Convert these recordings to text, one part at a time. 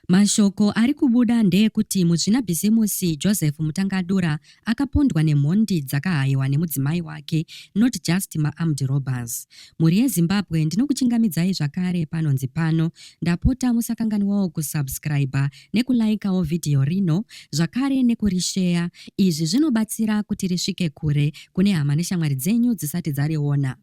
Mashoko ari kubuda ndeekuti muzvinabhizimusi Joseph Mutangadura akapondwa nemhondi dzakahayiwa nemudzimai wake not just maarmed robbers. Mhuri yeZimbabwe ndinokuchingamidzai zvakare panonzi pano ndapota musakanganwawo kusubscriber nekulaikawo video rino zvakare nekurisheya izvi zvinobatsira kuti risvike kure kune hama neshamwari dzenyu dzisati dzariona.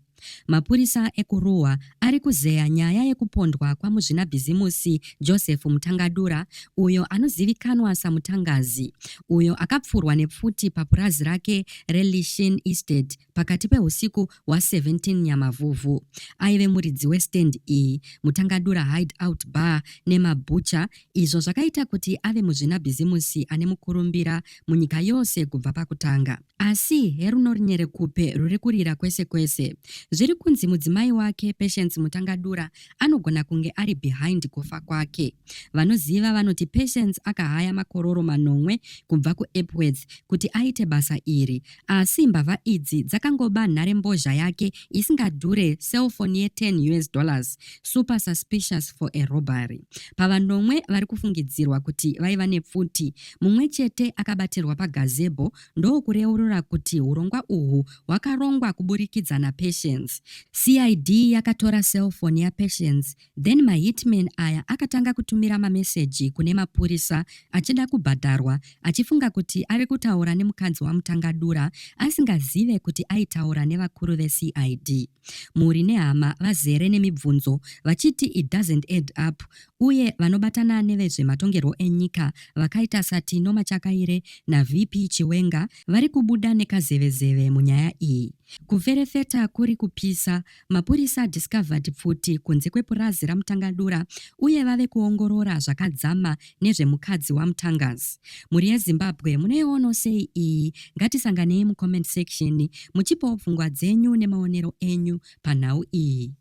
Mapurisa ekuRuwa ari kuzeya nyaya yekupondwa kwamuzvinabhizimusi Joseph Mutangadura uyo anozivikanwa saMutangazi uyo akapfurwa nepfuti papurazi rake reLishin Estate pakati pehusiku hwa17 Nyamavhuvhu. Aive muridzi westand iyi, Mutangadura Hideout Bar nemaButcher izvo zvakaita kuti ave muzvinabhizimusi ane mukurumbira munyika yose kubva pakutanga. Asi herunorinyerekupe ruri kurira kwese kwese. Zviri kunzi mudzimai wake, Patience Mutangadura, anogona kunge ari behind kufa kwake. Vanoziva vanoti Patience akahaya makororo manomwe kubva kuEpworth kuti aite basa iri. Asi mbavha idzi dzakangoba nharembozha yake isingadhure cellphone ye10 us dollars, super suspicious for a robbery. Pavanomwe vari kufungidzirwa kuti vaiva nepfuti mumwe chete akabatirwa pagazebo ndokureurura kuti hurongwa uhwu hwakarongwa kuburikidza naPatience. CID yakatora cellphone yaPatience then mahitman aya akatanga kutumira mameseji kune mapurisa achida kubhadharwa achifunga kuti ari kutaura nemukadzi waMutangadura asingazive kuti aitaura nevakuru veCID. Mhuri nehama vazere nemibvunzo vachiti it doesn't add up uye vanobatana nevezvematongerwo enyika vakaita saTino Machakaire naVP Chiwenga vari kubuda nekazevezeve munyaya iyi. Kuferefeta kuri kupisa, mapurisa adiscovered pfuti kunze kwepurazi raMutangadura uye vave kuongorora zvakadzama nezvemukadzi waMutangazi. Mhuri yeZimbabwe munoiono sei iyi? Ngatisanganei mucomment section muchipawo pfungwa dzenyu nemaonero enyu panhau iyi.